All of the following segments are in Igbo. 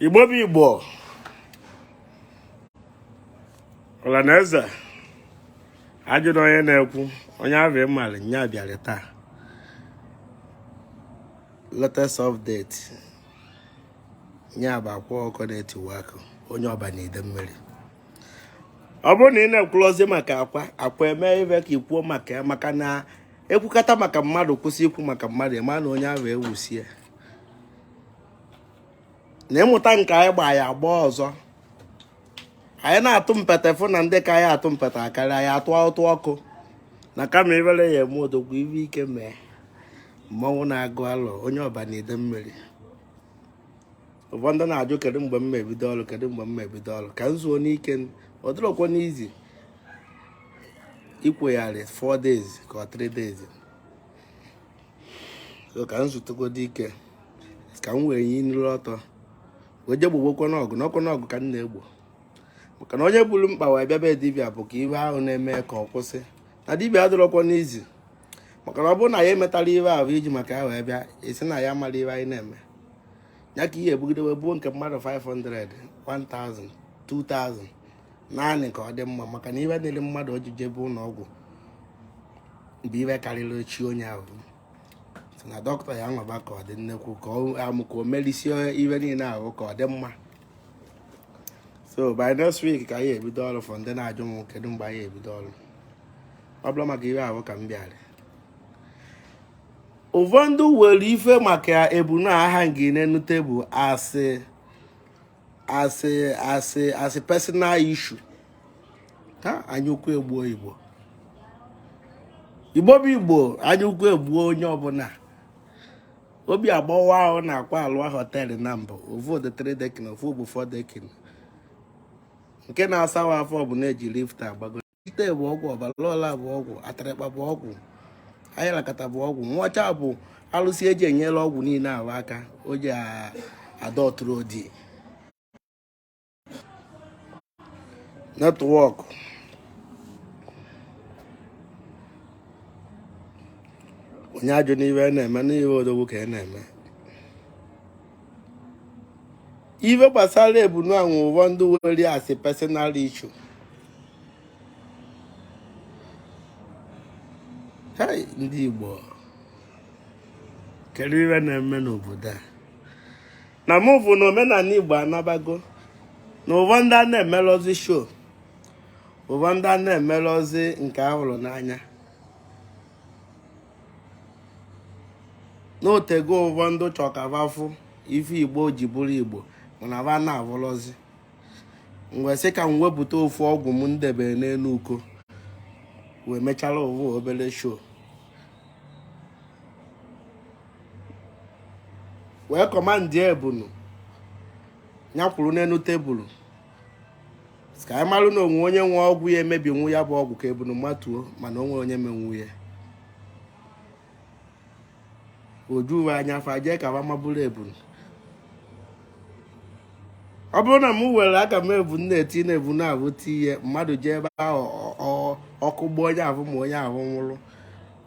igbo bụ igbo ọlanaeze ajụrụ onye na-ekwu onye ahụ ịmara nya bịara taa latest update nya bụ akwa ọkụkọ na-etiwa akị onye ọba na idemili ọ bụrụ na ị na-ekwurọzị maka akwa akwa eme ive ka ikwuo maka ya maka na ekwukata maka mmadụ kwụsị ikwu maka mmadụ ị ma na onye ahụ ewusie na imeta nke anyị gba ya agba ọzọ anyị na-atụ mpete fụ na ndị ka anyị atụ mpete akarị anyị atụ ụtụ ọkụ na kama ivere ya eme odogwu ive ike mee mmanwụ na-agụ alụ onye ọba na idemili ụfọdụ na-ajụ kedu mgbe m ebido ọrụ kedu mgbe m ebido ọrụ ka m zuonụ ike ọ dịrọkwanụ easy ikwegharị 4 days ka ọ 3 days so ka m zutugodu ike ka m wee nyiri ọtọ wee je gbobekwanụ ọgụ na ọ kwanụ ọgụ ka m na-egbo maka na onye buru mkpa wee bịa be dibịa bụ ka ive ahụ na-eme ka ọ kwụsị na dibịa adịrọkwanụ easy maka na ọ bụrụ na ya emetarọ ive ahụ i ji maka ya wee bịa ị sị na ya mara ive anyị na-eme ya ka ihe ebugide wee buo nke mmadụ 500 1000 2000 naanị ka ọ dị mma maka na ive dịrị mmadụ o ji jebe ụlọ ọgwụ bụ ive karịrị chi onye ahụ so na dọkịta ya nwaba ka ọ dị nnekwu ka amụ ka o melisie ive niile ahụ ka ọ dị mma so by next week ka anyị ebido ọrụ for ndị na-ajụ m kedu mgbe anyị ebido ọrụ ọ bụrọ maka ive ahụ ka m bịara ụfọdụ were ife maka ebunu ahụ dị n'enu tebụl as a as a as a as a personal issue hai anya ukwu egbuo igbo igbo bụ igbo anya ukwu egbuo onye ọbụla obi agbawa a hụ na akwa alụwa họteelụ naabọ ovu dị three decking ovu bụ four decking nke na-asawa afọ bụ na e ji lift agbago ite bụ ọgwụ ọbalọla bụ ọgwụ atarịkpa bụ ọgwụ ayalakata bụ ọgwụ nwacha bụ alụsị e ji enyela ọgwụ niile ahụ aka o ji adọtụrụ odi network onye ajụna ihe a na-eme na ihe odogwu ka a na-eme ife gbasara ebunu ahụ ụfọdụ were as a personal issue hai ndị Igbo kedu ife na-eme n'obodo a na mụ bụ na omenala Igbo anabago na ụfọdụ a na-emelụzi show ụfọdụ a na-emelụzi nke a hụrụ n'anya na o tego ụfọdụ chọ ka va fụ ife igbo ji bụrụ igbo mana va na-avụlọzi m wee sị ka m wepụta ofu ọgwụ m m debere n'enu uko wee mechara ovu obere show wee kọmandị ebunu ya kwụrụ n'enu tebulu ka anyị malụ na o nwe onye nwe ọgwụ ya emebinwu ya bụ ọgwụ ka ebunu matuo mana o nwe onye menwu ya o ju va anya fa jee ka fa maburu ebunu ọ bụrụ na m were aka m ebu na-eti na-ebu na-abụ tinye mmadụ jee ebe ahụ ọkụ gbaa onye ahụ ma onye ahụ nwụrụ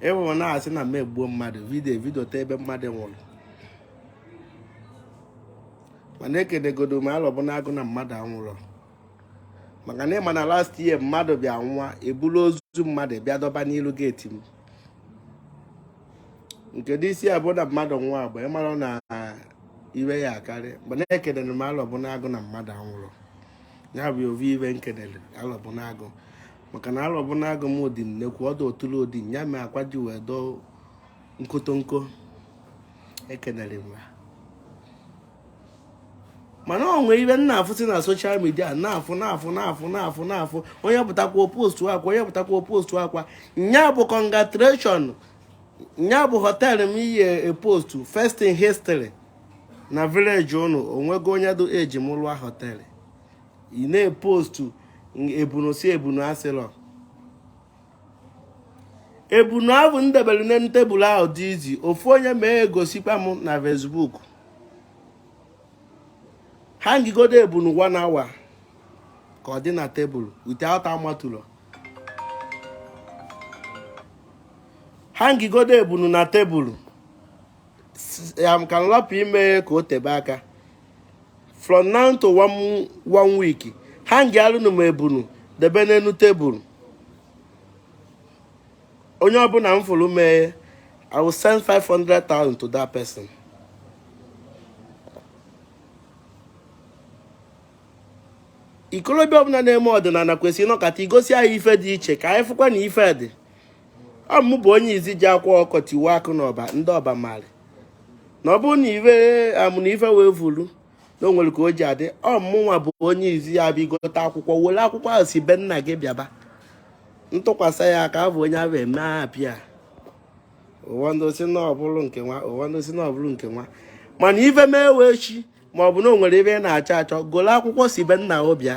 ị vụ a na-asị na m egbuo mmadụ vidio ta ebe mmadụ nwụrụ mana ekenegodo m alọbụ n'agụ na mmadụ anwụrọ maka na ị ma na last year mmadụ bịa nwụa e bulu ozu mmadụ bịa dọba n'ilu geeti m nke dị ị sị a bụ na mmadụ nwụa agba ị mara na iwe ya akarị mana ekenere m alọbụ n'agụ na mmadụ anwụrọ ya bụ ovu ive m kenere alọbụ n'agụ maka na alọbụ n'agụ m dị nnekwu ọdụ otulu odi ya mee akwa ji wee dọọ nkotonko ekenere m ya mana o nwee ive m na-afụsị na soshal midia na-afụ na-afụ na-afụ na-afụ na-afụ onye pụtakwa postuakwa onye pụtakwa postuakwa nya bụ congratulation nya bụ họteelụ m ị yị epostu first in history na vileji ụnụ o nwego onye dụ age m lụọ họteelụ ị na-epostu ebunu sị ebunu asịlọ ebunu ahụ m debere n'elu tebụl ahụ dị easy ofu onye mee ya gosikwa m na Facebook hangịgodo ebunu one hour ka ọ dị na tebụl without amatulọ hangịgodo ebunu na tebụl ya ka m rapụ ime ka o tebe aka from now to one week hangịalụnụ m ebunu debe n'enu tebụl onye ọbụna m fụrụ mee i will send 500,000 to that person ikolobịa ọbụna na-eme ọdịnana kwesịrị ịnọkọta igosi anyị ife dị iche ka anyị fụkwa na ife dị ọ mụ bụ onye izi ji akwa ọkụkọ tiwa akụ na ọba ndị ọba malị na ọ bụrụ na ife amụ na ife wee vulu na o nwere ka o ji adị ọ mụnwa bụ onye izi ya bụ ị gote akwa ọkụkọ were akwa ọkụkọ ahụ si be nna gị bịaba m tụkwasị ya aka abụ onye ahụ eme apịa ụfọdụ sị na ọ bụrụ nke nwa ụfọdụ sị na ọ bụrụ nke nwa mana ife mee wee chi ma ọ bụ na o nwere ebe ị na-achọ achọ golo akwa ọkụkọ si be nna o bịa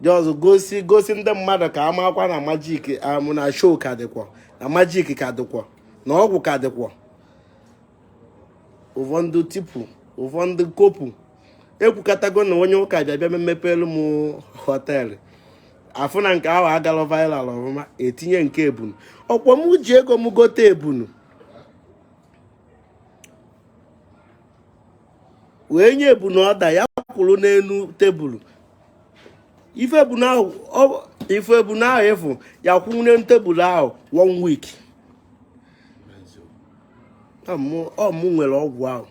just gosi gosi ndị mmadụ ka amakwa na majik amụ na show ka dịkwọ na majik ka dịkwọ na ọgwụ ka dịkwọ ụfọdụ tipu ụfọdụ kopu ekwukatago na onye ụka bịa bịa mepeelụ m hotel afụ na nke ahụ agala viral ọfụma etinye nke ebunu ọkwọ m ji ego m gote ebunu wee nye ebunu order ya kwụrụ n'elu tebụl ịfụ ebunu ahụ ịfụ ya kwụ n'elu tebụl ahụ one week ọmụ nwere ọgwụ ahụ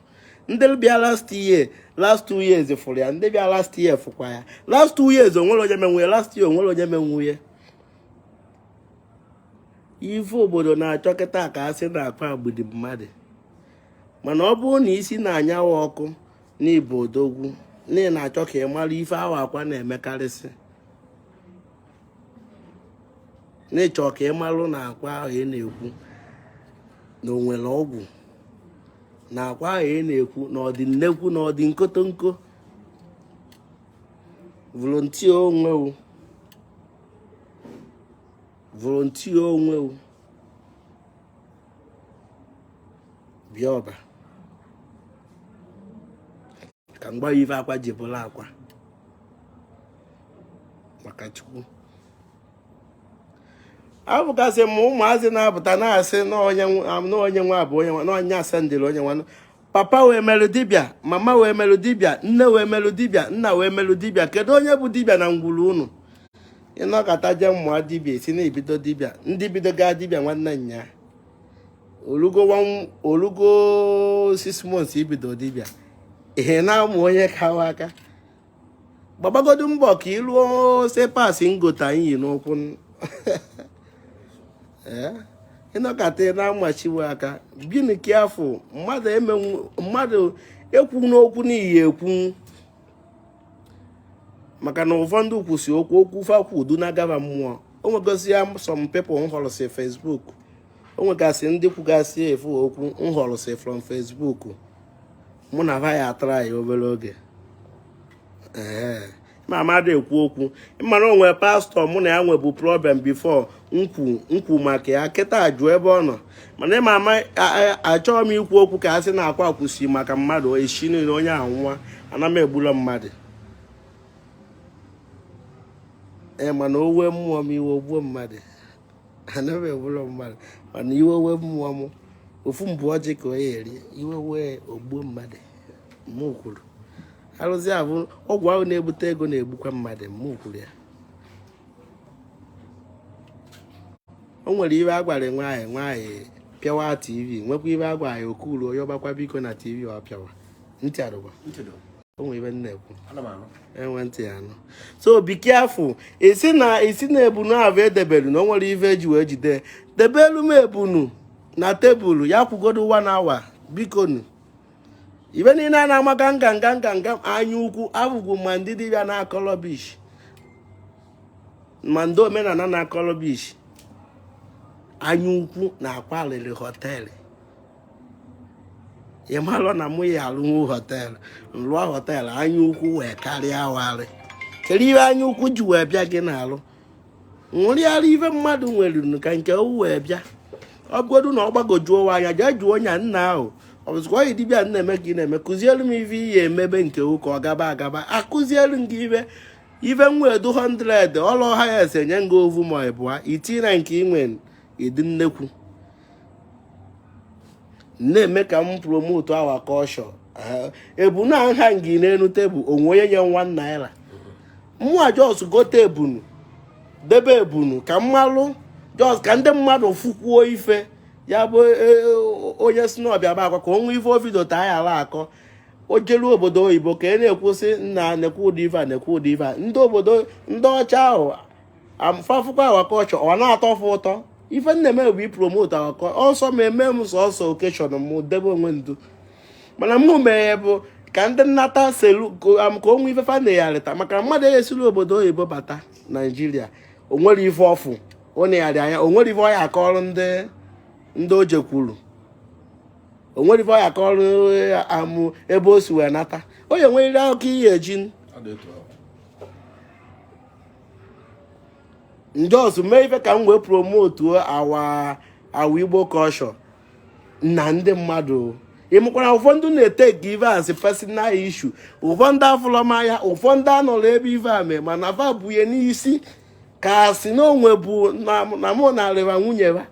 ndị bịa last year last two years fụrụ ya ndị bịa last year fụkwa ya last two years onwere onye menwu ya last year onwere onye menwu ya ife obodo na-achọ kịta ka a sị na akwa egbudi mmadụ mana ọ bụrụ na isi na-anyawa ọkụ n'ịbụ odogwu na ị na-achọ ka ị mara ife awa akwa na-emekarịsị n'ịchọ ka ị marụ na akwa ahụ ị na-ekwu na o nwere ọgwụ na akwa ahụ ị na-ekwu na ọdị nnekwu na ọdị nkotonko volunteer onwe o volunteer onwe o bịa ọba ka m gwa ị ife akwa ji bụlụ akwa maka chukwu abụkasị m ụmụazị na-apụta na-asị n'onye nwa bụ onye nwa n'onye asendịrị onye nwa papa wee merụ dibịa mama wee merụ dibịa nne wee merụ dibịa nna wee merụ dibịa kedu onye bụ dibịa na ngwuru unu ịnọkata je mụọ dibịa ị sị na ibido dibịa ndị bidoga dibịa nwanne nya olugo six months ibido dibịa ihe na-amụ onye kawa aka gbabagodu mbọ ka ị lụọ slippers ngota iyi n'ụkwụ eh? ịnọkata na-amachiwe aka gịnị ka afọ mmadụ ekwu n'okwu n'ihi ekwu maka na ụfọdụ kwusi okwu okwu fa kwu eduna ha gaba mmụọ o nwegozi ya some people m họrụsị Facebook o nwegasị ndị kwugasị efu okwu m họrụsị from Facebook mụ na ha ya atara ya obere oge ee ịma m adị ekwu okwu ịma na onwe pastor mụ na ya nwebu problem before m kwu maka ya kịta ajụ ebe ọ nọ mana ịma ama achọghị m ikwu okwu ka a sị na akwa kwusi maka mmadụ echi niile onye ahụ nwụa ana m egbula mmadụ ee mana owe mmụọ m iwe ogbuo mmadụ anaghị egbu mmadụ mana iwe wee mmụọ m ofu mbụ ọjị ka onye eri iwe wee o gbuo mmadụ mụ kwuru arụsị abụ ọgwụ ahụ na-ebute ego na-egbukwa mmadụ mụ kwuru ya o nwere ive a gwara nwaanyị nwaanyị pịawa tv nwekwa ive a gwara ya o kuru onye ọgbakwa biko na tv ọ pịawa ntị arụba o nwee ive na-ekwu enwe ntị ya anụ so be careful ị sị na ị sị na ebunu ahụ e debelu na o nwere ife e ji wee jide debelu m ebunu na tebụl ya kwugodo one hour bikonu ive niile a na-amaka nga nga nga nga anya ukwu abụgwu ma ndị dibịa na-akọ rubbish ma ndị omenala na-akọ rubbish anya ukwu na Akwa rụrụ họteelụ ị malụ na mụ ya-alụnwu họteelụ m rụọ họteelụ anya ukwu wee karịa warị kedu ihe anya ukwu ji wee bịa gị n'alụ nwụrịara ife mmadụ nwere ka nke gị wee bịa ọ bụgodu na ọ gbagojuo wa anya jee jụọ ya nna ahụ ọ bụzikwa onye dibịa na-eme ka ị na-eme kụzielu m ife ihe emebe nke ụka ọ gaba agaba akụzielu m gị ife ife nwa edu 100 ọlụ ọha ya ese nye nga ovu ma ịbụa itinye na nke inwe ịdị nnekwu na-eme ka m promote our culture ebunu nha ngi n'elu tebụl o nwe onye nye one naira mụa just gote ebunu debe ebunu ka m malụ just ka ndị mmadụ fụkwuo ife ya bụ e, e, onye sị na ọ bịa be Akwa ka o nwee ife o videota ya ala akọ o jelu obodo oyibo ka e na-ekwu sị nna nekwu ụdị ife a nekwu ụdị ife a ndị obodo ndị ọcha ahụ fa fụkwa our culture ọ na-atọ fa ụtọ ife m na-eme bụ ipromote our culture ọ sọ ma eme m sọsọ occasion m debe onwe ndu mana mụ mere bụ ka ndị nata selu ka o nwee ife fa na-eyarịta maka mmadụ esiri obodo oyibo bata naijiria o nwere ife ọfụ ọ na-eyarị anya o nwere ife ọ ya-akọrọ ndị ndị o jekwuru o nwere ife ọ ya-akọrọ amụ ebe o si wee nata onye nweriri akụkọ ihe eji m just mee ife ka m wee promotuo our our igbo culture na ndị mmadụ ị makwa na ụfọdụ na-etake ive as personal issue ụfọdụ afụlọ m anya ụfọdụ anọrọ ebe ive a mee mana va bunye n'isi ka a sị na onwe bụ na mụ na arịba nwunye va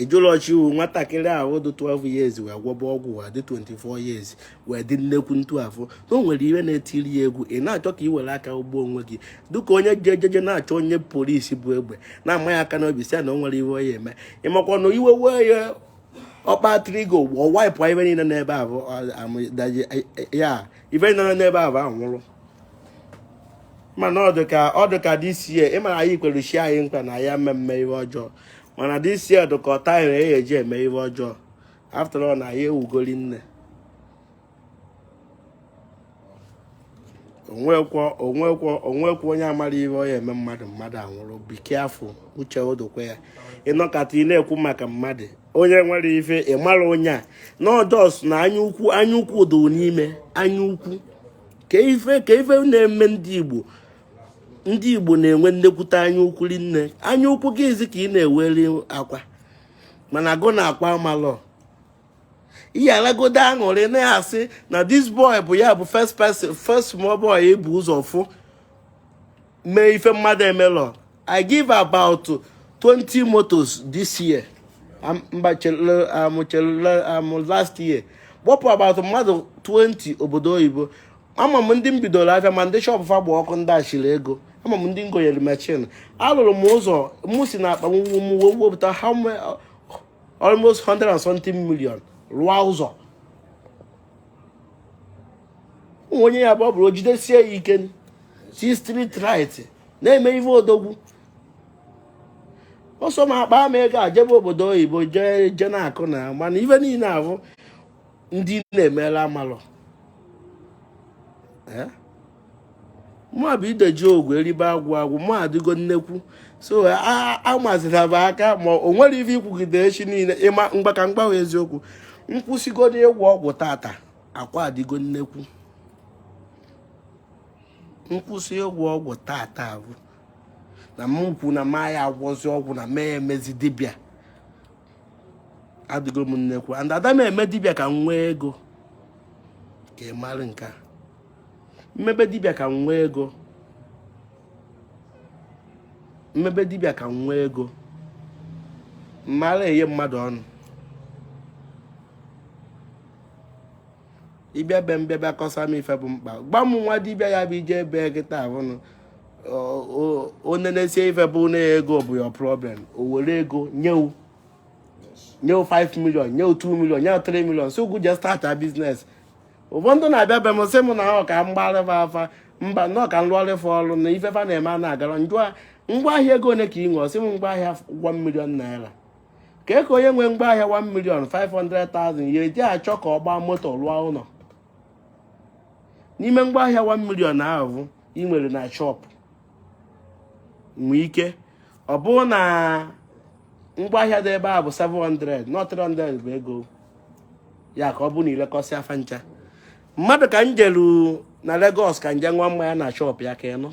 ejụlọchi iwu nwatakịrị ahụ dị 12 years wee gwọba ọgwụ wa dị 24 years wee dị nnekwu ntu afọ na o nwere ihe na-etiri ya egwu ị na-achọ ka ị were aka gbuo onwe gị dịka onye ji ejeje na-achọ onye polisi bu egbe na-amaghị aka n'obi si ya na o nwere ihe ọ ya eme ị makwa na iwe wee ya ọ kpa trigger ọ wipe ife niile n'ebe ahụ ya ife niile n'ebe ahụ anwụrụ mana ọ dịka ọ dịka this year ịmara anyị kwere chi anyị nkwa na ya mmemme ihe ọjọọ mana this year dịka ọta anyị na eji eme ihe ọjọọ after all na anyị ebugo ri nne o nwekwọ o nwekwọ o nwekwọ onye a mara ihe ọ ya eme mmadụ mmadụ anwụrụ be careful uche odokwe ya ị nọkata ị na-ekwu maka mmadụ onye nwere ife ịmara onye a na ọ just na anya ukwu anya ukwu do n'ime anya ukwu ka ife ka ife na-eme ndị Igbo ndị Igbo na-enwe nnekwute anya ukwu ri nne anya ukwu gị izi ka ị na-eweli akwa mana agụ na akwa amalọ ihe alagodo aṅụrị na-asị na this boy bụ ya bụ first person first small boy e bu ụzọ fụ mee ife mmadụ emelọ I give about 20 motors this year amụchelụ last year kpọpụ about mmadụ 20 obodo oyibo ama m ndị m bidoro afịa ma ndị shop fa gba ọkụ ndị achịrị ego ama m ndị m gonyere machine alụrụ m ụzọ mụ si na akpa m wee wepụta almost 100 and something million rụọ ụzọ onye ya bụ ọ bụrụ jidesie ya ike si street right na-eme ife odogwu ọsọ na akpa m ego a jebe obodo oyibo jee je na-akọ na mana ife niile ahụ ndị na-emela amalụ mụ bụ ideji ogwu eribe agwụ agwụ mụ adịgo nnekwu so amazila m aka ma o nwere ife ị kwugide echi niile ịma mgba ka m gbanwe eziokwu m kwụsịgodu ịgwọ ọgwụ tata ọ kwa adịgo m nnekwu m kwụsị ịgwọ ọgwụ tata bụ na m kwu na ma ya agwọzi ọgwụ na mee emezi dibịa adịgo m nnekwu and ada m eme dibịa ka m nwee ego ka ị mara nke a m mebe dibịa ka m nwee ego m mebe dibịa ka m nwee ego m ara enye mmadụ ọnụ ị bịa be m bịa bịa kọsa m ife bụ mkpa gba m nwa dibịa ya bụ ị je ebe kịta ahụnụ ọ nenesie ife bụ na ego bụ your problem o were ego nye wụ nye wụ 5 million nye wụ 2 million nye wụ 3 million so ngwa je start a business ụfọdụ na-abịa be m sị m na ọ ka m gbaarị fa afa mba na ọ ka m lụọrụ fa ọrụ na ife fa na-eme ana-agarọ m jụọ ya ngwa ahịa ego ole ka i nwe ọ sị m ngwa ahịa 1 million naira kee ka onye nwee ngwa ahịa 1 million 500,000 ya eji achọ ka ọ gbaa moto rụọ ụlọ n'ime ngwa ahịa 1 million ahụ ị nwere na shọpụ nwee ike ọ bụrụ na ngwaahịa dị ebe a bụ 700 na 300 bụ ego ya ka ọ bụ na i lekọsịa fa ncha mmadụ ka m jelu na Lagos ka m je ṅụa mmanya na shọpụ ya ka m nọ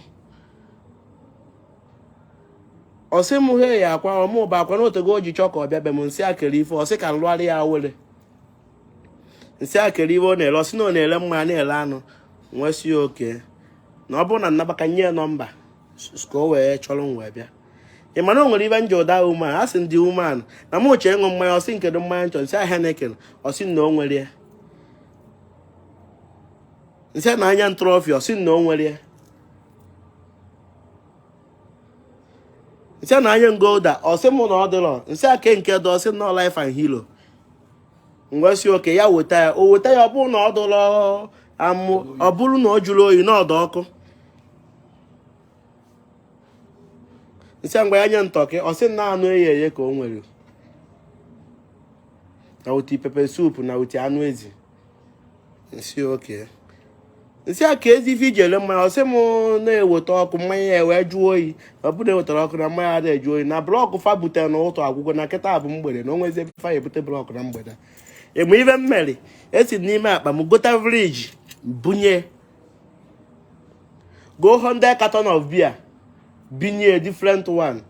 ọ sị m heya Akwa ọ mụ bụ Akwa na o tego o ji chọọ ka ọ bịa be m m sị ya kedu ife ọ sị ka m lụọrị ya awele m sị ya kedu ife ọ na-ele ọ sị na ọ na-ele mmanya na-ele anụ m wee sị ya okay na ọ bụrụ na m naba ka m nye ya nọmba ka o wee chọrọ m wee bịa ị ma na o nwere ife m jụọ that woman asị m the woman na m chọ ịṅụ mmanya ọ sị m kedu mmanya m chọ m sị ya Heineken ọ sị na o nwerọ ya m sị nya nye m Trophy ọ sị na o nwerọ ya m sị nya nye m Gulder ọ sị mụ na ọ dịrọ m sị ya kee nke dị ọ sị na Life and Hero m wee sị okay ya weta ya o weta ya ọ bụrụ na ọ dụrọ am ọ bụrụ na ọ jụrọ oyi na ọ dụ ọkụ m sị ngwa ya nye m turkey ọ sị na anụ eghe eghe ka o nwere na with pepper soup na with anụ ezi m sị okay m sị ya keezi ife i ji ele mmanya ọ sị m na e weta ọkụ mmanya ya wee jụọ oyi ọ bụrụ ewetarọ ọkụ na mmanya ada ajụ oyi na blọkụ fa butere n'ụtụtụ agwụgo na kịta bụ mgbede na o nwezi ebe fa ebute blọkụ na mgbede ị ma ife m mere esi n'ime akpa m gota friji bunye goo 100 carton of beer bunye different one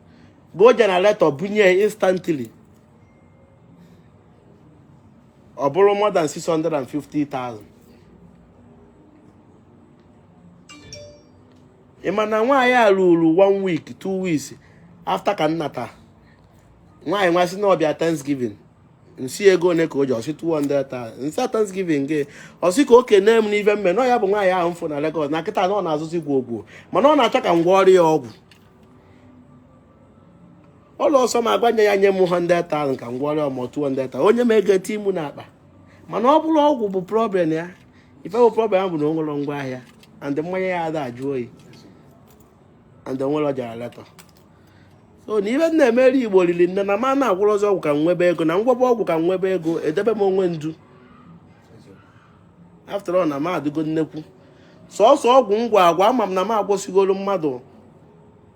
goo generator bunye instantly ọ bụrụ more than 650,000 ị ma na nwaanyị a ruru one week two weeks after ka m nata nwaanyị wee sị na ọ bịa Thanksgiving m sị ya ego one ka o ji ọ sị 200,000 m sị Thanksgiving gịnị ọ sị ka o kene m n'ife m mee na ya bụ nwaanyị ahụ m fụ na Lagos na kịta na ọ na-azụzi gwogwo mana ọ na-achọ ka m gwọọrọ ya ọgwụ ọla ọ sọ m agwa ya ya nye m 100,000 ka m gwọrọ ya ma ọ 200,000 o nye m ego etinye mụ n'akpa mana ọ bụrọ ọgwụ bụ problem ya ife bụ problem bụ na o nwerọ ngwa ahịa and mmanya ya ada ajụ oyi and o nwerọ generator so na ife m na-emere Igbo riri nne na m ana-agwọrọ sọọ ọgwụ ka m nwebe ego na m gwọba ọgwụ ka m nwebe ego edebe m ọnụ duu after all na m adịgo nnekwu sọsọ ọgwụ m gwọ agwọ ama m na m agwọsịgoro mmadụ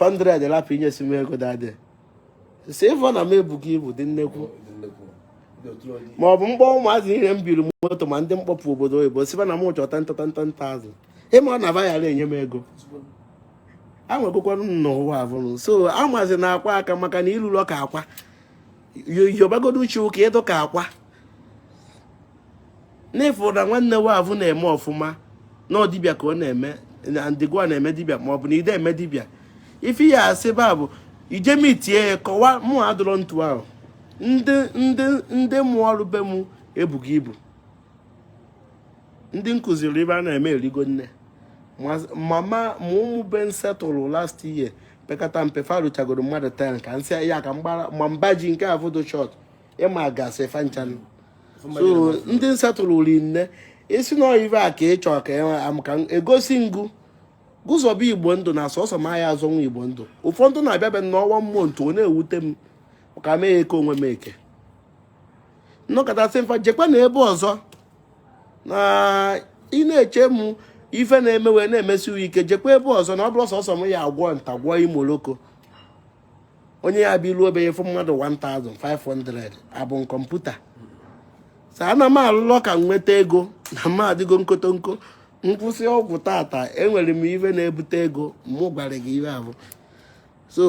100 lapụ inyesi m ego dadị si ịfọ na m ebughị ibu dị nnekwu ma ọ bụ m kpọọ ụmụazị niile m biri moto ma ndị m kpọpụ obodo oyibo sị va na m chọrọ ten ten thousand ịma na va yara enye m ego enwegokwanụ m n'ụwa avụrụ so amazi na akwa aka maka na ịlụlọ ka akwa yobagodo uche ụka ịdụ ka akwa n'ịfụ na nwanne wa vụ na-eme ọfụma na ọ dibịa ka ọ na-eme na ndị wa na-eme dibịa ma ọ bụ na ide eme dibịa ife ya asị ba bụ ijemi tie ya kọwa mụ adọrọ ntu ahụ ndị ndị ndị mụ ọrụ be mụ ebughị ibu ndị m kụziri ive a na-eme erigo nne mama ma ụmụ be m setụlụ last year pekata mpe fa ruchagoro mmadụ ten ka m sị ya ka m gbaji nke a foto short ị magasị fa ncha so ndị m setụlụ ri nne ị sị na ọ ive a ka ị chọọ ka e egosi ngụ gụzọba igbo ndụ na sọsọ m aya azọnwa igbo ndụ ụfọdụ na-abịabe na one month ọ na-ewute m ka mee ya eke onwe m eke m nọkata sị fa jekwa na ebe ọzọ na ị na-eche m ife na-eme wee na-emesi ike jekwa ebe ọzọ na ọ bụrọ sọsọ m ya agwọ nta gwọọ imo loko onye ya bụ ilu obere fụ mmadụ 1500 abụ kọmputa sa ana m alụlọ ka m nweta ego na m adịgo nkotonko m kwụsị ọgwụ tata enwere m ife na-ebute ego mụ gwara gị ihe ahụ so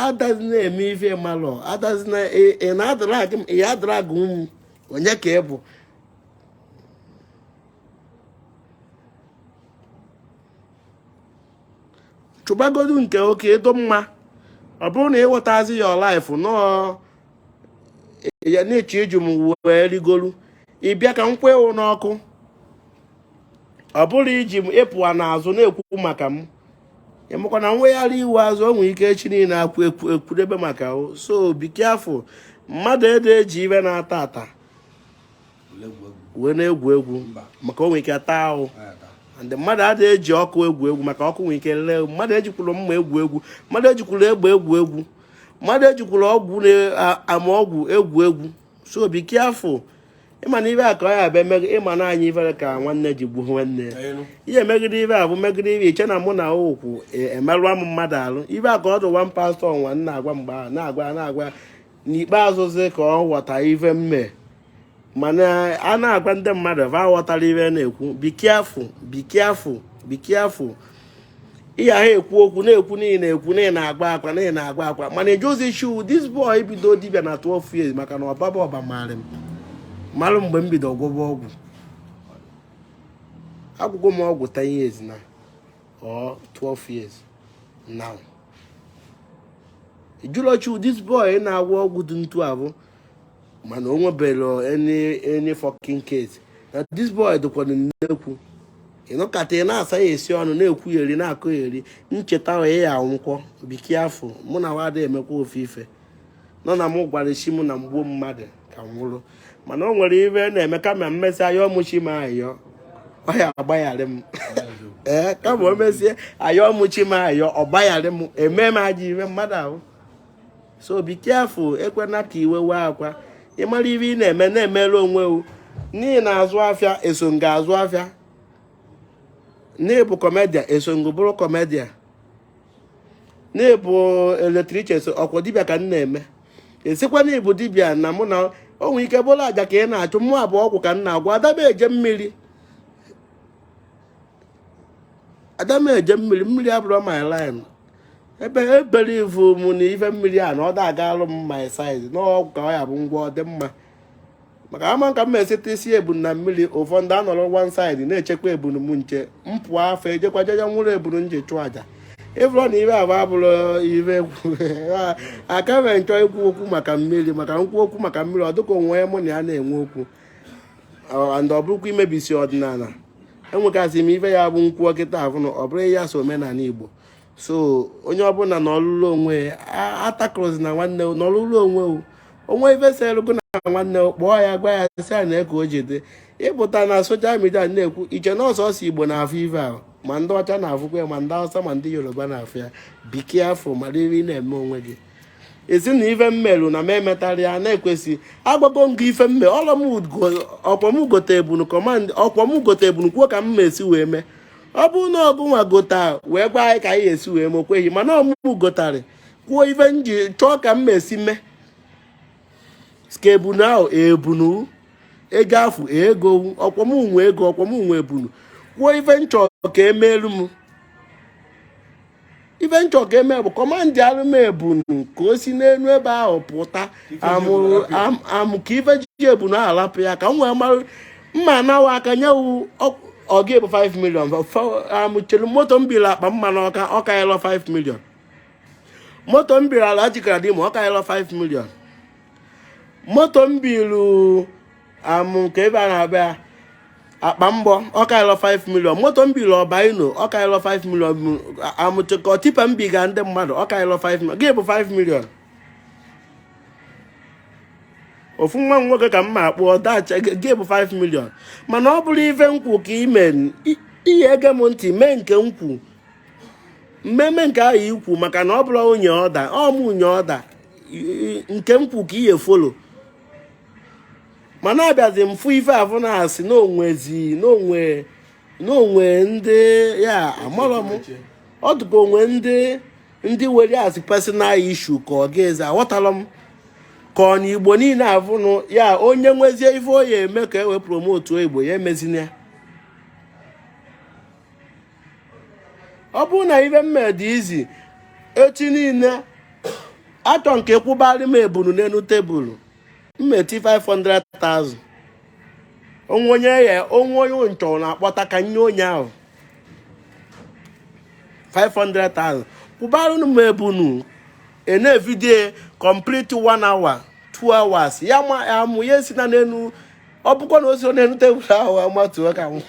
adazi na-eme ife malụ adazi na ị na-adrag m onye ka ị bụ chụbagodu nke oke edo mma ọ bụrụ na ịghọtazi ya ọ life nọọ ya na-eche iji m wee rigolu ịbịa ka m kwe ewu n'ọkụ ọ bụrụ iji m ị pụa n'azụ na-ekwu maka m ịmakwa na m wegharị iwu azụ o nwere ike echi niile akwụ ekwu ekwudebe maka o so be careful mmadụ ede eji ive na-ata ata wee na-egwu egwu maka o nwere ike taa ahụ and mmadụ adịghị eji ọkụ egwu egwu maka ọkụ nwere ike lee mmadụ ejikwuro mma egwu egwu mmadụ ejikwuro egbe egwu egwu mmadụ ejikwuro ọgwụ na-ama ọgwụ egwu egwu so be careful ịma na ive a ka ọ ya abịa megide ịma na anyị ifere ka nwanne ji gbuo nwanne ihe megide ibe a bụ megide ibe iche na mụ na ụkwụ e, emerụa m mmadụ alụ ive a ka ọ dị one pastor nwa na-agwa mgbe ahụ na-agwa na-agwa n'ikpeazụzi ka ọ ghọta ive m me mana a na-agwa ndị mmadụ va aghọtara ive a na-ekwu be careful be careful be careful ihe ahụ ekwu okwu na-ekwu n'ihi na-ekwu n'ihi na-agwa akwa n'ihi na-agwa akwa mana ị jụọzi chi wu this boy bido dibia na 12 years maka na ọbaba ọba maara m marụ mgbe m bido gwọba ọgwụ agwọgo m ọgwụ 10 years na or 12 years now ị jụlụ chi wu this boy na-agwọ ọgwụ dị ntu abụ mana o nweberọ any any fucking case na this boy dịkwana nnekwu ị nụkata ị na-asa ya esi ọnụ na-ekwu ya eri na-akụ ya eri ncheta onye ya anwụkwọ be careful mụnwa ada emekwa ofe ife nọ na m gwara chi m na m gbuo mmadụ ka m nwụrụ mana o nwere ive na-eme kama m mesịa ayọọ mụ chi m ayọ ọ ya-agbagharị m ee eh, kama o mesie ayọọ mụ chi m ayọ ọ gbagharị m eme m ajọ ive mmadụ ahụ so be careful ekwena ka iwe wee akwa ị mara ive ị na-eme na-emere onwe wu na ị na-azụ afịa eso m gị azụ afịa na ị bụ comedian eso m gị bụrụ comedian na ị bụ electrician eso ọkwa dibịa ka m na-eme ị sịkwa na ị bụ dibịa na mụ na o nwere ike bụrụ aja ka ị na-achụ mụwa bụ ọgwụ ka m na-agwọ ada m eje mmiri ada m eje mmiri mmiri abụrọ my line ebe ebere ị vụ mụ na ife mmiri a na ọ da agalụ m my size n'ọgwụ ka ọ ya bụ ngwa ọ dị mma maka ama ka m eseta isi ebunu na mmiri ụfọdụ anọrọ one side na-echekwa ebunu m nche m pụọ fa ejekwa je je nwụrụ ebunu m ji chụọ aja ị vụrụ na ive ahụ abụrọ ive aka mere m chọ ikwu okwu maka mmiri maka m kwuo okwu maka mmiri ọ dịka onye mụ na ya na-enwe okwu and ọ bụrọkwa imebisi ọdịnala enwegasị m ife ya bụ nkwụ ọkịta ahụ na ọ bụrụ ya so omenala igbo so onye ọbụla nọlụlụ onwe atakụrụzina nwanne nọlụlụ onwe o nwe ife selu gụ na nwanne kpọọ ya gwa ya sị ya nee ka o ji dị ị pụta na social media na-ekwu i che na ọ sọọsọ igbo na-afụ ife ahụ ma ndị ọcha na-afụkwa ya ma ndị awụsa ma ndị yoruba na-afụ ya be careful mara ive ị na-eme onwe gị ị sị na ife m merụ na m emetarọ ya na-ekwesị agwago m gị ife m me ọkwa m gote ebunu command ọkwa m gote ebunu kwuo ka m ma esi wee mee ọ bụrụ na ọ gụnwa gota wee gwa anyị ka anyị esi wee mee okweghị mana ọ mụ mụ gotarị kwuo ife m ji chọọ ka m ma esi mee ska ebunu ahụ ebunu ego afụ ego ọkwa m nwe ego ọkwa m nwe ebunu kwuo ife m chọọ ka emeelu m ife m chọ ka e mee bụ commandịalụ m ebunu ka o si n'elu ebe ahụ pụta amụ ka ife ji ebunu ahụ lapụ ya ka m wee mara mma anawa aka nyewu ọ gịnị bụ 5 million amụchelu moto m biri akpa mma n'Ọka ọ kaịlọ 5 million moto m biri ala jikara dị ma ọ kaịlọ 5 million moto m biru amụ nke ebe a na-abịa akpa mgbọ ọ kaịlọ 5 million moto m bilụ Ọbaino ọ kaịlọ 5 million amụchịkọ tipa m biga ndị mmadụ ọ kaịlọ 5 million gịnị bụ 5 million ofu nwa nwoke ka m ma akpụ ọdacha gịnị bụ 5 million mana ọ bụrụ ife m kwu ka i mee i ya-ege m ntị mee nke m kwu m mee nke ahụ i kwu maka na ọ bụrụ onye order ọ mụ nye order nke m kwu ka i ya-follow mana abịazi m fụ ife afụ na-asị na o nwezi na o nwe na o nwe ndị ya amarọ m ọ dịka o nwe ndị ndị were ya as personal issue ka ọ gazi aghọtarọ m ka ọ na Igbo niile afụnụ ya onye nwezie ife ọ ya-eme ka e wee promote Igbo ya emezina ya ọ bụrụ na ife m me dị easy echi niile atọ nke kwụbarị m ebunu n'elu tebụl m meti 500,000 o nwe onye ya o nwe onye m chọ na-akpọta ka nye onye ahụ 500,000 kwụbarụnụ m ebunu a na-evideo complete 1 hour 2 hours ya ma ya mụ ya si na n'elu ọ bụkwa na o si ọ n'enu tebụl ahụ amatuo ka m ma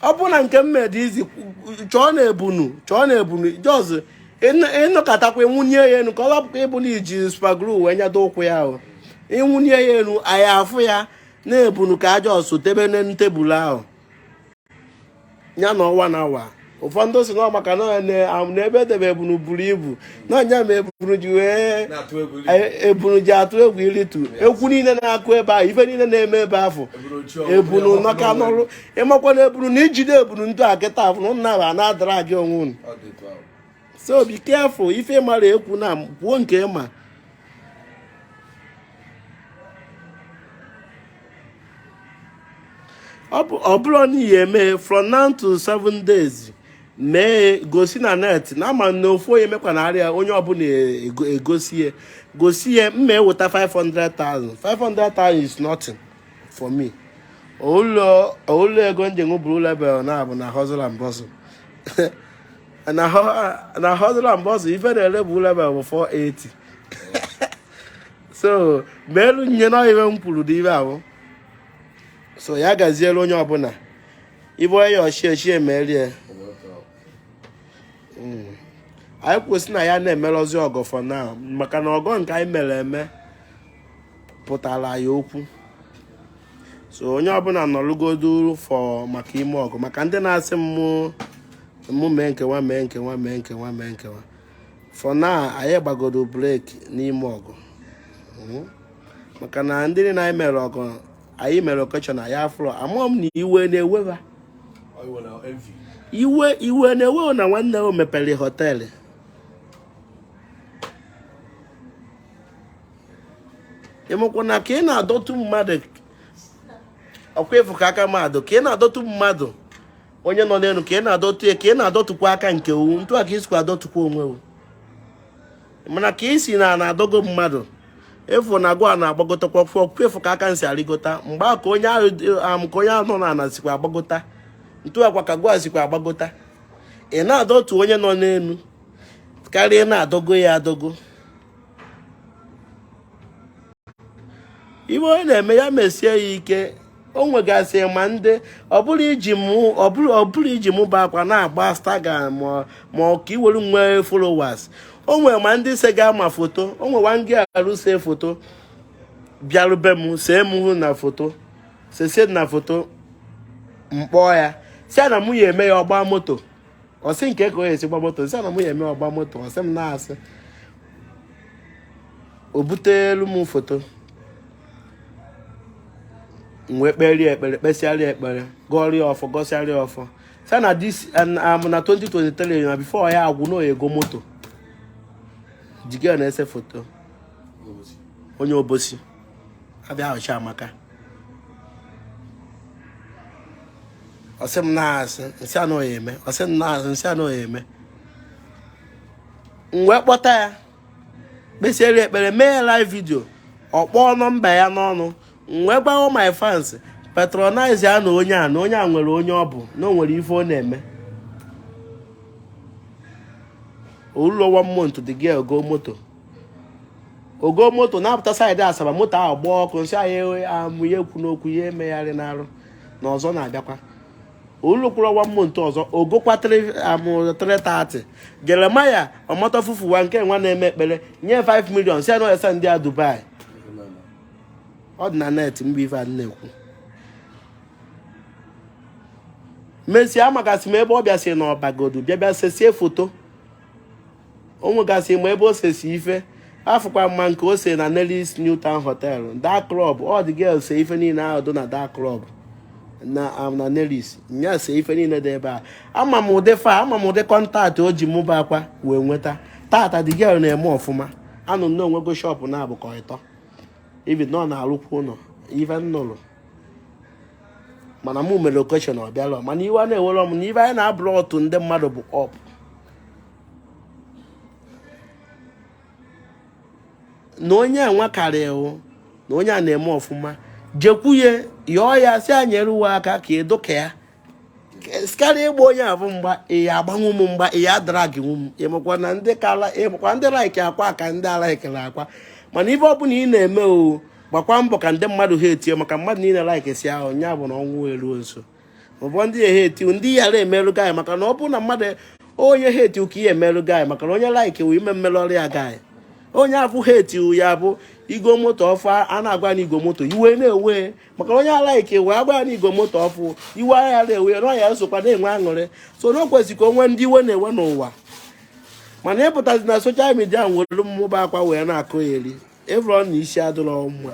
ọ bụ na nke m me dị easy chọọ na ebunu chọọ na ebunu just ị nọkatakwa i wenie ya enu ka ọ lapụkwa ịbụ na e ji super glue wee nyado ụkwụ ya ahụ i wenie ya enu anyị afụ ya na ebunu ka a just debe n'elu tebụl ahụ ya nọ awa na awa ụfọdụ sị na maka na ebe e debe ebunu buru ibu na anya ma ebunu ji wee ebunu ji atụ egwu ịrịtu egwu niile na-akụ ebe ahụ ife niile na-eme ebe afụ ebunu nọka n'ọrụ ị makwa na ebunu na i jide ebunu ndị a kịta afụ na ụnụ na-aba na-adara gị onwe unu so be careful ife m na-ekwu na kwuo nke ma ọ bụrụ na i ya-eme from now to seven days mee gosi na net na ama na ofu onye mekwa na arịa onye ọbụla e, egosi ya gosi ya m ma-eweta 500,000 500,000 is nothing for me ọ bụrọ ego m ji buru level na-abụ na hustle and bustle na hustle and bustle ife na-ere bụ level bụ 480 so meelu onye na iwe m kwuru dị ebe ahụ so ya gaziere onye ọbụla ebe onye ọchie chie merie hmm. anyị kwusi na anyị na-emerọzi ọgọ for now maka na ọgọ nke anyị mere eme pụtara anyị okwu so onye ọbụla nọrụgodu fọ maka ime ọgọ maka ndị na-asị mụ mụ mee nkewa mee nkewa mee nkewa mee nkewa for now anyị gbagodo break n'ime ọgọ hmm? maka na ndị niile anyị mere ọgọ anyị mere occasion anyị afụrọ ama m na iwe na-ewe wa iwe iwe na-ewe na nwanne o mepere hotel ị makwa na ka ị na-adọtụ mmadụ ọ kwa ị fụ ka aka mmadụ ka ị na-adọtụ mmadụ onye nọ n'elu ka ị na-adọtụ ya ka ị na-adọtụkwa aka nke owu ntụ a ka i sikwa adọtụkwa onwe owu mana ka i si na na-adọgo mmadụ ị fụ na gụwa na-agbagotakwa ọkwa efu ka aka nsi arịgota mgbe a ka onye ahụ um, ka onye ahụ nọ n'ala sikwa agbagota ntụ a kwa ka gụwa sikwa agbagota ị na-adọtụ onye nọ n'elu karịa na-adọgo ya adọgo ife onye na-eme ya mesie ya ike o nwegasị ma ndị ọ bụrụ iji mụ ọ bụrụ iji mụ bụ akwa na-agba Instagram maka iwere nwee followers o nwere ma ndị se ga ama foto o nwe one girl se foto bịarube m see mụ na foto sesie na foto m kpọọ ya sị na mụ ya-eme ya ọ gba moto ọ sị m kee ka ọ ya-esi gba moto m sị na mụ ya-eme ọ gba moto ọ sị m na asị o butelu m foto m wee kpeeri ya ekpere kpesịarị ya ekpere gọọrị ya ọfọ gọsịarị ya ọfọ sị na this am na 2023 na before ya agwụ na ọ ya-ego moto Chika na-ese foto onye Obosi abi ọ Chiamaka ọ sị m na asị m sị ya na ọ ya-eme ọ sị m na asị m sị ya na ọ ya-eme m wee kpọta ya kpesiere ekpere mee ya live video ọ kpọọ nọmba ya n'ọnụ m wee gwa wa my fans patronize ya na onye a na onye a nwere onye ọ bụ na o nwere ife ọ na-eme o lurọ one month the girl goo moto o go moto na-apụta saịdị asaba moto ahụ gbaa ọkụ m sị anyị amụ ya ekwuna okwu ya emegharịna arụ na ọzọ na-abịakwa o lukwuru 1 month ọzọ o gokwa amụ 330 jeremaya omoto fufuwa nke nwa na-eme ekpere nye 5 million si anọ esendi ya dubai ọ dị na net mgbe ife a na-ekwu mesie amakasị m ebe ọ bịa si na ọba godu bịa bịa sesie foto o nwegasị ma ebe o sesi ife afụkwa m nke o se na Nelly's New Town Hotel da klọb ọ the girl se ife niile ahụ dị na da klọb na um, na Nelly's nya se ife niile dị ebe a ama m ụdị fa ama m ụdị kọntaktị o ji mụ bụ akwa wee nweta taata the girl na-eme ọfụma anụ m na o nwego shọpụ naabọ ka ịtọ ibi na ọ na-arụkwa ụlọ ife m nụrụ mana mụ mere okeshọn ọ bịara mana iwe a na-ewere m na ife anyị na-abụrụ ọtụ ndị mmadụ bụ ọpụ na onye a nwe karịa na onye a na-eme ọfụma jekwu ya yọọ ya sị ya nyere wụ aka ka ị dị ka ya karịa ịgba onye afụ mgba ị ya-agbanwu m mgba ị ya-adragịnwu m ịmakwa na ndị kala ịmakwa ndị laiki akwa ka ndị alaikirọ akwa mana ife ọbụla ị na-eme o gbakwa mbọ ka ndị mmadụ hetie maka mmadụ niile laikisia wụ nya bụ na ọnwụ eruo nso ọ bụ ndị ya heti ndị ya-emerụ gị maka na ọ bụrụ na mmadụ onye heti ka ihe emerụ gị maka na onye laiki wụ ime mmerụ ọrụ ya gị onye afụ heti ya bụ i go moto ọfụụ a na-agwa na i go moto iwe na-ewe maka onye laiki wụ a gwa na i go moto ọfụụ iwe aya na-ewe na ọ ya-esokwa na-enwe aṅụrị so na o kwesịrị ka o nwe ndị iwe na-ewe n'ụwa mana ị pụtazi na soshal midia were mụ bụ akwa wee na-akụ eri ịbụrụ na isi adịrọ mma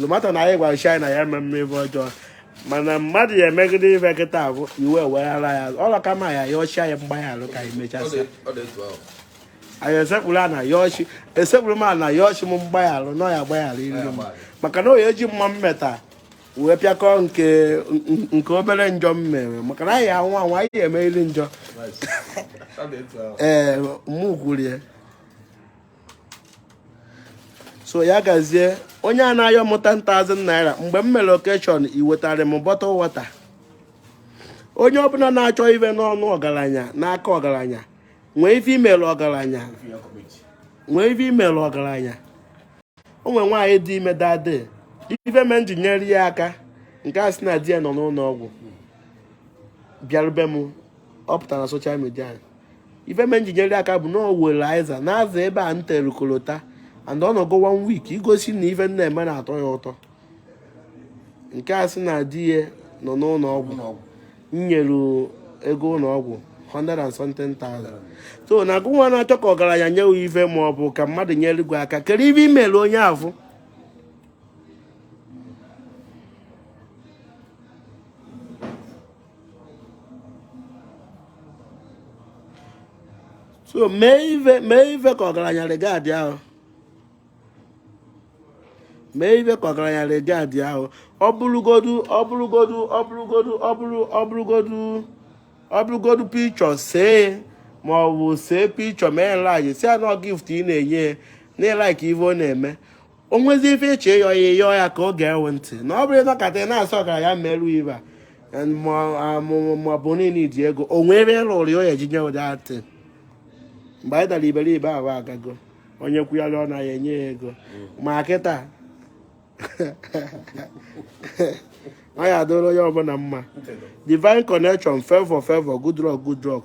lomata na anyị gwara shine na ya eme mme ebe ọjọọ mana mmadụ ya emegide ibe kịta bụ iwe weghara ya ọlọ kama ya yọọ chi ya mgbaghara ka anyị mechasịa anyị esekpuru ana yọọ chi esekpuru m ana yọọ chi m mgbaghara na ọ ya-agbaghariri m maka na ọ ya-eji mma m meta wee pịakọ nke nke obere njọ m mere maka na anyịnwa anyị emeriri njọ ee mụ kwuru ya so ya gazie onye a na-ayọ m 10,000 naira mgbe m mere okeshọn i wetara m bọtụl wọta onye ọbụla na-achọ ife n'ọnụ ọgaranya n'aka ọgaranya nwee ife i mere ọgaranya nwee ife i mere ọgaranya o nwere nwaanyị dị ime that day ife me m ji nyere ya aka nke a sị na di ya nọ n'ụlọ ọgwụ bịaruo be m ọ pụtara na soshal midia ife me m ji nyere ya aka bụ na o were azịza na-aza ebe a m tere kolota and ọ nọgo one week igosi na ife m na-eme na-atọ ya ụtọ nke a sị na di ya nọ n'ụlọ ọgwụ nyere ego ụlọ ọgwụ 100 and something thousand so na gịnwa na-achọ ka ọgaranya nye ya ife ma ọ bụ ka mmadụ nyere gị aka kedu ife i mere onye afụ so mee ife mee ife ka ọgaranya regadịa gị mee ife ka ọgaranya regadịa gị ọ bụrụgodu ọ bụrụgodu ọ bụrụgodu ọ bụrụ ọ bụrụgodu ọ bụrụgodu pichọ see ma ọ bụ see pichọ mee enlaji sị ya na ọ gift ị na-enye na ị laik ife ọ na-eme o nwezi ife ị chọ ịyọ ya ịyọ ya ka ọ gee gị ntị na ọ bụrụ ị nọkata ị na-asị ọgaranya merụ ife a ma ọ bụ niile iji ego o nwee ife ị rụrụ ya o ya ji nye ụdị atị mgbe anyị dara iberibe ahụ agago onye kwuyara ọ naghị enye ya ego ma kịta ọ ya adịrị onye ọbụla mma divine connection favor favor good luck good luck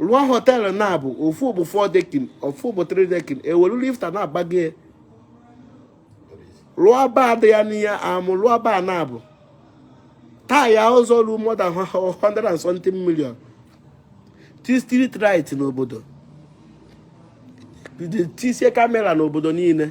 rụọ họteelụ naabọ ofu bụ four dekin ofu bụ three dekin e welu lifta na-agbago ya rụọ baa dị ya n'ihe amụ rụọ baa naabọ taa ya ụzọ ruo more than 100 and something million tie street light n'obodo tisie kamera n'obodo niile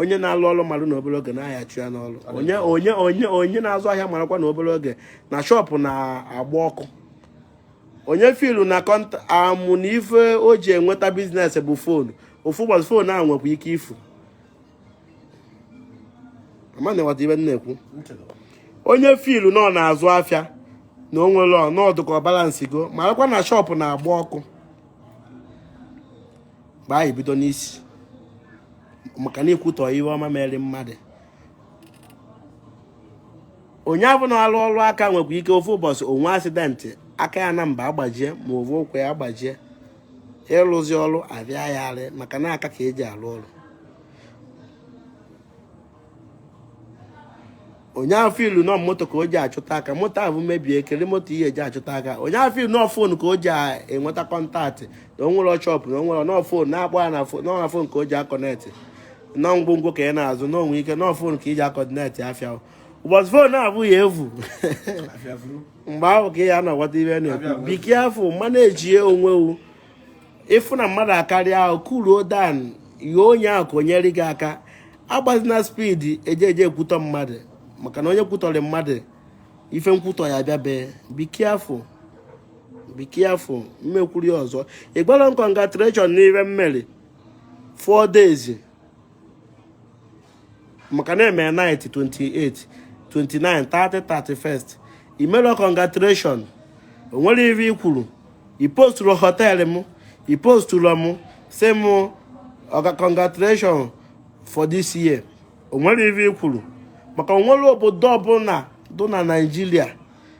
onye na-alụ ọrụ mmadụ na obere oge na a ya-achụ ya n'ọrụ onye onye onye onye na-azụ ahịa marakwa na obere oge na shọpụ na-agba ọkụ onye filu na kọnta amụ na ife o ji enweta biznes bụ foonu ofu ụbọchị foonu ahụ nwekwa ike ifu onye filu na ọ na-azụ afịa na o nwere ọnọdụ ka ọ balansigo marakwa na shọpụ na-agba ọkụ mgbe anyị bido n'isi maka na ikwutọ ihe ọma mere mmadụ onye afụ na-alụ ọrụ aka nwekwa ike ofu ụbọchị o nwee asidentị aka ya naabọ agbajie ma ọ bụ ụkwụ ya agbajie ịrụzi ọrụ afịa ya arụ maka na aka ka e ji arụ ọrụ onye filu na ọ moto ka o ji achụta aka moto ahụ mebie kere moto ị ya-eji achụta aka onye filu na ọ fon ka o ji enweta kọntaktị na o nwere shọpụ na o nwere na ọ fon na-akpọ ya na fon ka o ji akọnetị na ọ ngwongwo ka ị na-azụ na o nwe ike na ọ fon ka i ji akọdinetị afịa ụbọchị fon afụ ya-efu mgbe ahụ ka ị ya-aghọta ife m na-ekwu be careful manejie onwe gị ịfụ na mmadụ akarịa ahụ kuuluo down yọọ onye ahụ ka o nyere gị aka agbazina speed eje eje ekwutọ mmadụ maka na onye kwutọrọ mmadụ ife nkwutọ ya bịabe be careful be careful m ekwuru ya ọzọ ị gwara m congratulation n'ife m mere four days maka na eme night 28 29 30 31 i melo congratulation o nwere ife i kwuru i posturu hotel m i posturu m sị m ọga congratulation for this year o nwere ife i kwuru maka o nwere obodo ọbụla dụ na Nigeria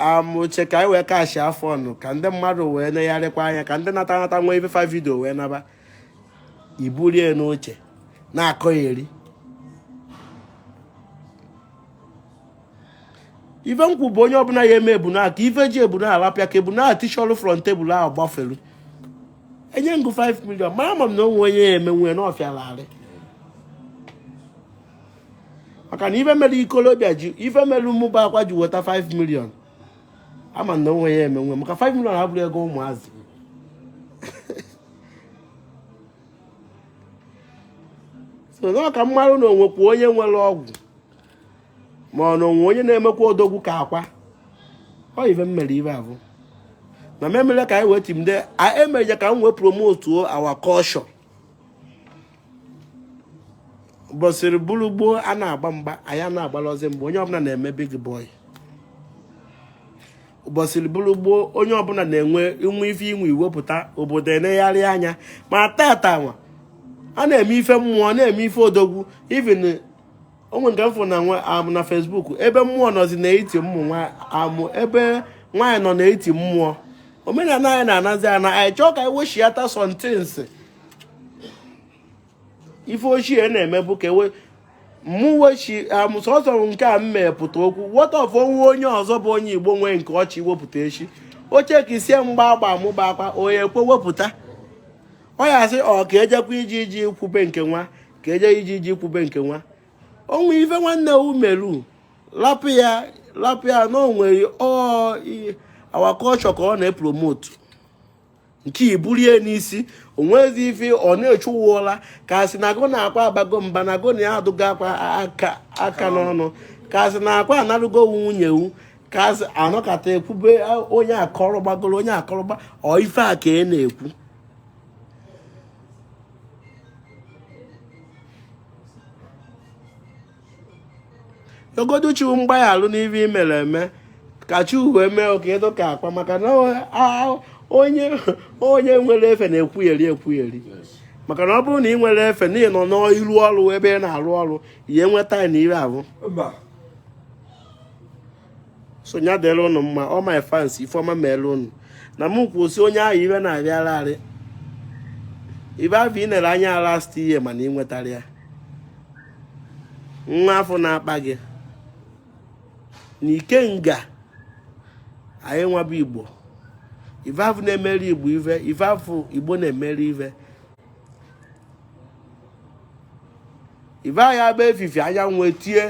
amụche ka anyị wee catchia fun ka ndị mmadụ wee negharịkwa anya ka ndị nata nata nwee ife fa video wee naba i burie n'oche na-akọ eri ife nkwụ bụ onye ọbụla ya eme ebuna ka ife ji ebuna alapịa ka ebuna atishọlụ front table ahụ gbafelu enye ngụ 5 million ma ama m na onwe onye ya emenwe na ọfịa larị maka na ife mere ikolobịa ji ife mere mmụba akwa ji weta 5 million ama m na onwe ya emenwe maka 5 million abụrọ ego ụmụazị so na ọ ka m marụ na onwekwa onye nwere ọgwụ ma ọ na onwe onye na-emekwa odogwu ka akwa ọ ife m mere ife a bụ na m mere ka anyị wee timde emeje ka m wee promotuo our culture bọsịrị bụrụ gboo a na-agba mgba anyị a na-agbalọzị mgba onye ọbụla na-eme big boy ụbọchịrị bụrụ gboo onye ọbụla na-enwe i nwee ife i nwe i wepụta obodo enegharị anya ma tata nwa a na-eme ife mmụọ na-eme ife odogwu even onwe nke m fụ na nwa amụ na Facebook ebe mmụọ nọzi na-eti mmụ nwa amụ ebe nwaanyị nọ na-eti mmụọ omenala anyị na-anazi ana anyị chọọ ka anyị weshiata some things ife ochie na-eme bụ ka e wee mụwechi amụsọsọ nke a m mepụta okwu wọta ọfụ onwe onye ọzọ bụ onye Igbo nwee nke ọ chọ iwepụta echi oche ka isie mgba agba amụba akwa onye ekwe wepụta ọ ya sị ọ ka ejekwa iji iji kwube nke nwa ka eje iji iji kwube nke nwa onwe ife nwanne umeru lapụ ya lapụ ya na onwere ọ our culture ka ọ na-epromote nke i bulie n'isi onwezi ife ọ na-echu ụwa ka asị na agụ na-akwa abago mba na agụ na ya adụgo akwa aka n'ọnụ ka asị na akwa anarụgo nwunye wu ka asị anọkata ekwube onye akọrọ gbagoro onye akọrọ gba ọ ife a ka ị na-ekwu ogodu chukwu mgbaghalụ n'ihe i mere eme ka chukwu eme oke ịdụ ka akwa maka na onye onye nwere efe na-ekwugheri ekwugheri maka na ọ bụrụ na ị nwere efe na ị nọ n'iru ọrụ ebe ị na-arụ ọrụ ihe nweta na ire ahụ so nya dịrị ụnụ mma ọ my fans ife ọma mere ụnụ na m kwụsị onye ahụ ive na-arara arị ive afụ ị nere anya last year mana ị nwetarọ ya nwa afụ na-akpa gị na ikenga anyị wa bụ igbo ife afụ na-emeri igbo ife ife afụ igbo na-emeri ife ife anyị agba efifie anyanwụ etie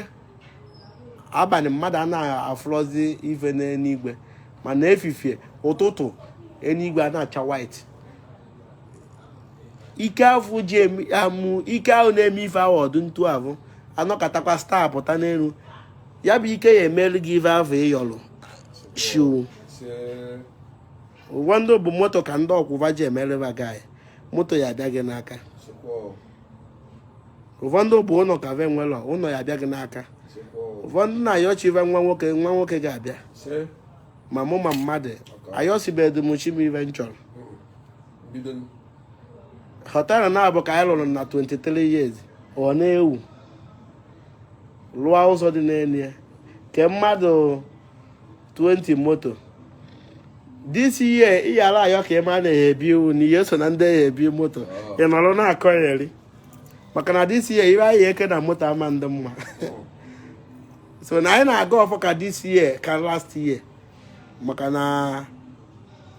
abalị mmadụ anaghị afụrọzi ife n'eluigwe mana efifie ụtụtụ eluigwe a na-acha white ike afụ ji amụ ike ahụ na-eme ife ahụ ọdụ ntu ahụ anọkatakwa star pụta n'elu ya bụ ike ya-emelu gị ife ahụ ị yọlụ chi ụfọdụ bụ moto ka ndị ọkwụva ji emereba gị moto ya-abịa gị n'aka ụfọdụ bụ ụlọ ka ve nwelọ ụlọ ya-abịa gị n'aka ụfọdụ na-ayọ chi ve nwa nwoke nwa nwoke ga-abịa ma mmụọ ma mmadụ ayọsibedu m chi m ive m chọrọ họtelụ na-abụ ka anyị lụrụ na 23 years ọ na-ewu lụọ ụzọ dị n'elu ya ke mmadụ 20 moto this year ị yara ayọ ka ị ma na ebi iwu na ị ya-eso na ndị ya-ebu moto ị nọrọ na-akọ ya eri maka na this year iwe anyị eke na moto ama ndị mma so na anyị na-aga ọfọ ka this year ka last year maka na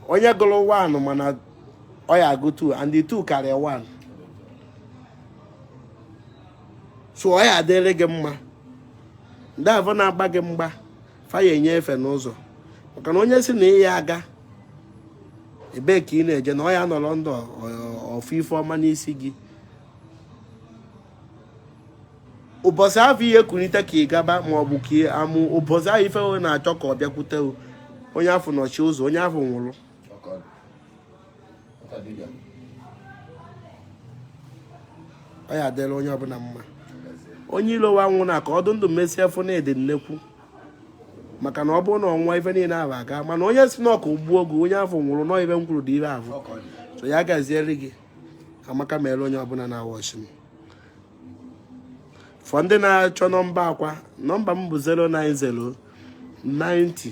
onye gụrụ 1 ma na ọ ya-agụ 2 and the 2 karịa 1 so ọ ya-adịrị gị mma ndị avụ na-agba gị mgba fa ya-enye efe n'ụzọ maka na onye sị na ị ya-aga ebee ka ị na-eje na ọ ya-anọrọ ndụ ọ fụ ife ọma n'isi gị ụbọchị afụ ị ya-ekunite ka ị gaba ma ọ bụ ka ị amụ ụbọchị ahụ ife ọma na-achọ ka ọ bịakwute onye afụ nọchi ụzọ onye afụ nwụrụ ọ ya-adịlị onye ọbụla mma onye ilo anwụna ka ọ dị ndụ mesie fụ na ị dị nnekwu maka na ọ bụrụ na ọ nwụọ ife niile ahụ aga mana onye sị na ka o gbuo gị onye afụ nwụrụ na ọ ive m kwuru dị ive ahụ so ya gaziere gị amaka mere onye ọbụla na-awatch m for ndị na-achọ nọmba akwa nọmba m bụ 090 90